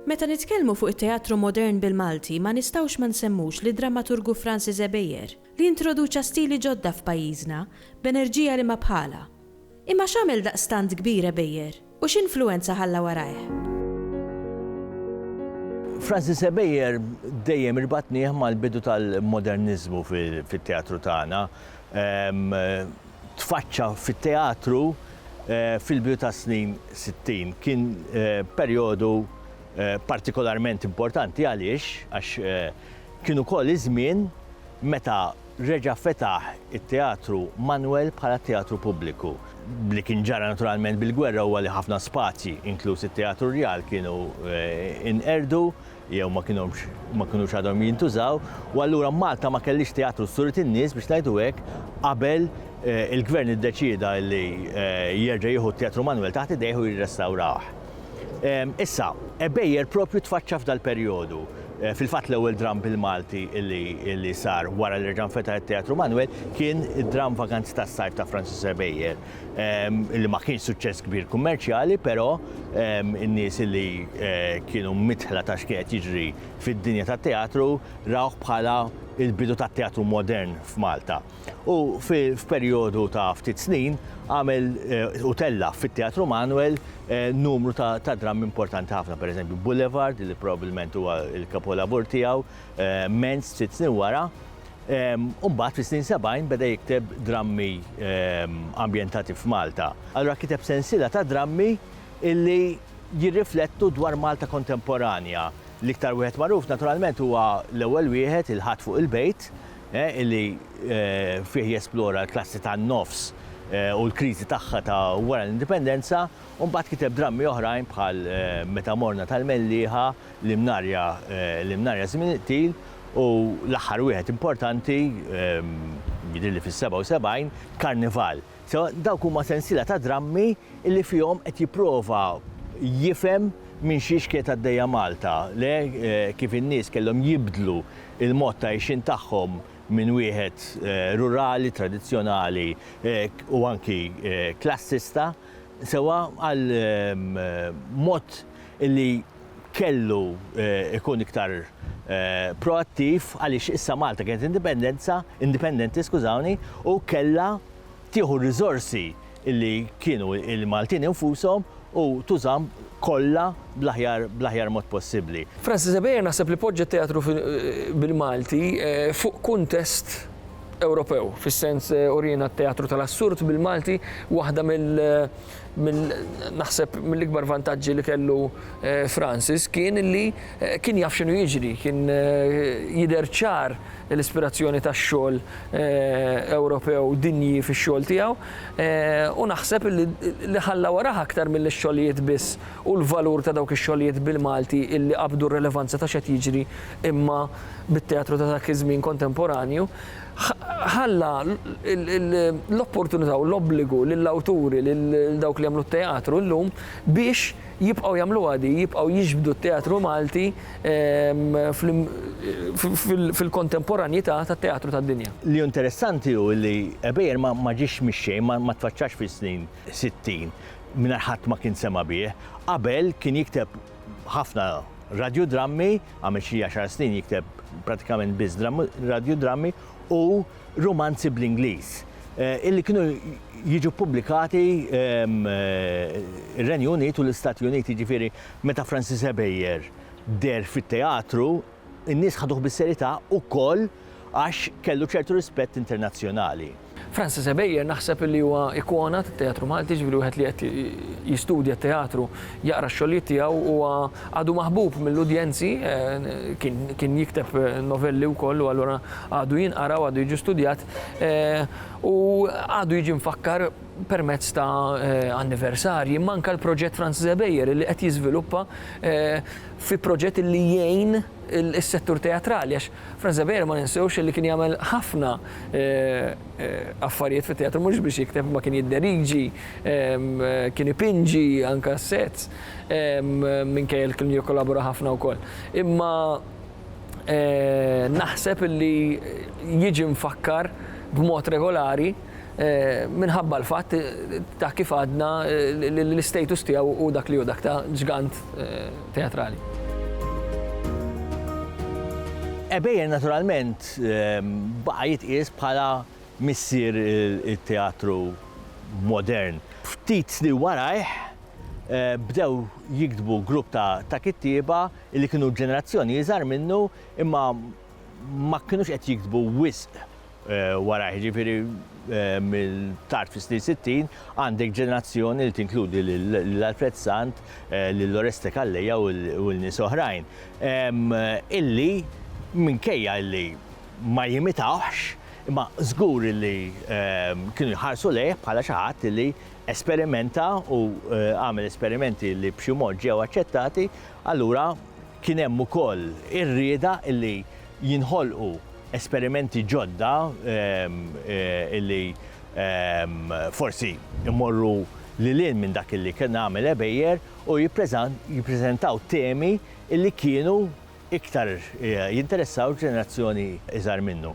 Meta nitkellmu fuq it-teatru modern bil-Malti ma nistgħux ma nsemmux lid-drammaturgu Francis Ebejer li introduċa stili ġodda f'pajjiżna b'enerġija li ma bħalha. Imma x'għamel daqstant kbir Ebejer? U x'influwenza ħalla warajh? Francis Ebejer dejjem irbatnieh mal-bidu tal-moderniżmu fit-teatru tagħna. Tfaċċa fit-teatru fil-bidu tas-snin sittin. Kien perjodu partikolarment importanti għaliex għax kien ukoll iż-żmien meta reġa' fetaħ it-Teatru Manwel bħala teatru pubbliku. Li kien ġara naturalment bil-gwerra huwa li ħafna spazji, inkluż it-Teatru Rjal, kienu nqerdu jew ma kienux ma kinux għadhom jintużaw u allura Malta ma kellhiex teatru sturit in-nies biex ngħidu hekk qabel il-Gvern iddeċieda li jerġa' jieħu t-Teatru Manwel taħt idejh u jirrestawrah. Issa, Ebejjer propju tfaċċa f'dal-perjodu. Fil-fatt l-ewwel dramm bil-Malti li sar wara li reġa' nfetaħ it-Teatru Manwel kien id-dramm Vaganzi tas-Sajf ta' Francis Ebejjer, li ma kienx suċċess kbir kummerċjali, però n-nies li kienu midħla ta' x'kien qed jiġri fid-dinja tat-teatru rawh bħala l-bidu tat-teatru modern f'Malta. u f'perjodu ta' ftit snin għamel u tella' fit-Teatru Manuel numru ta' drammi importanti ħafna, pereżempju Boulevard li probabbilment huwa l-kapolavur tiegħu, Menz ftit snin wara, u mbagħad fis-snin 70 beda jikteb drammi ambjentati f'Malta. Allura kiteb sensiela ta' drammi li jirriflettu dwar Malta kontemporanja. L-iktar wieħed magħruf naturalment huwa l-ewwel wieħed, Il-Ħadd fuq il-Bejt, li fih jesplora l-klassi tan-nofs u l-kriżi tagħha ta' wara l-Indipendenza, u mbagħad kiteb drammi oħrajn bħal Meta Morna tal-Mellieħa, L-Imnarja, L-Imnarja Żmien Iqtil, u l-aħħar wieħed importanti, jidhirli fis-77, Karnival. So, dawk huma sensiela ta' drammi li fihom qed jipprova jifhem minn xiex kienet għaddejja Malta, le kif in-nies kellhom jibdlu l-mod ta' għixien tagħhom minn wieħed rurali, tradizzjonali u anki klassista sewwa għal mod li kellu jkun iktar proattiv għaliex issa Malta kienet indipendenza, indipendenti skużawni, u kellha tieħu r-riżorsi li kienu l-Maltin infushom u tużahom kollha bl-aħjar bl-aħjar mod possibbli. Francis Xavier naħseb li poġġa t-teatru bil-Malti fuq kuntest Ewropew, fis-sens uriena t-teatru tal-assurd bil-Malti waħda mill minn naħseb mill-ikbar vantaġġi li kellu eh, Francis kien li eh, kien jaf x'inhu jiġri, kien eh, jidher ċar l-ispirazzjoni tax-xogħol Ewropew dinji fix-xogħol tiegħu u naħseb li ħalla waraha aktar mill-xogħlijiet biss u l-valur ta' dawk ix-xogħlijiet bil-Malti illi qabdu r-relevanza ta' xed jiġri imma bit-teatru ta' dak iż-żmien kontemporanju ħalla l-opportunità u l-obbligu lill-awturi, lil dawk li jagħmlu t-teatru llum, biex jibqgħu jagħmluha di, jibqgħu jiġbdu t-teatru Malti fil-kontemporanjità tat-teatru tad-dinja. Li hu interessanti hu li Ebejer ma ġiex mix-xejn, ma tfaċċax fis-snin sittin mingħajr ħadd ma kien sema' bih. Qabel kien jikteb ħafna radjudrammi, għamel xi għaxar snin jikteb pratikament biss radjudrammi u rumanzi bl-Ingliż eh, illi kienu jiġu pubblikati ehm, eh, ir-Renju Unit u l-Istati Uniti, ġifieri meta Francis Ebejer der fit-teatru In-nies ħaduh bis-serjetà wkoll għax kellu ċertu rispett internazzjonali. Francis Ebejer naħseb li huwa ikona tat-teatru Malti, jiġifieri wieħed li qed jistudja t-teatru jaqra x-xogħlijiet tiegħu huwa għadu maħbub mill-udjenzi, kien kien jikteb novelli wkoll u allura għadu jinqara u għadu jiġi studjat u għadu jiġi mfakkar permezz ta' anniversarji, imma anke l-proġett Francis Ebejer li qed jiżviluppa fi proġett li jgħin is-settur teatrali għax Franz Xavier ma ninsewx li kien jagħmel ħafna affarijiet fit-teatru mhux biex jikteb imma kien jidderiġi, kien ipinġi anke s-sets minkejja li kien jikkollabora ħafna wkoll. Imma naħseb li jiġi mfakkar b'mod regolari. minħabba l-fatt ta' kif għadna li l-istatus tiegħu hu dak li hu, dak ta' ġgant teatrali. Ebejer naturalment baqa' jitqies bħala missier it-teatru modern. Ftit snin warajh bdew jiktbu grupp ta' kittieba li kienu ġenerazzjoni iżgħar minnu imma ma kinux qed jiktbu wisq warajh, jiġifieri mill-tard fis-snin sittin, għandek ġenerazzjoni li tinkludi lil Alfred Sant, lil Oreste Calleja u lil nies oħrajn, illi minkejja illi ma jimitawhx, imma żgur illi kienu jħarsu lejh bħala xi ħadd illi esperimenta u għamel esperimenti li b'xi mod ġew aċċettati, allura kien hemm ukoll ir-rieda illi jinħolqu esperimenti ġodda li forsi jmorru lil hinn minn dak li kien għamel Ebejer u jippreżentaw temi li kienu iktar jinteressaw ġenerazzjoni iżgħar minnu.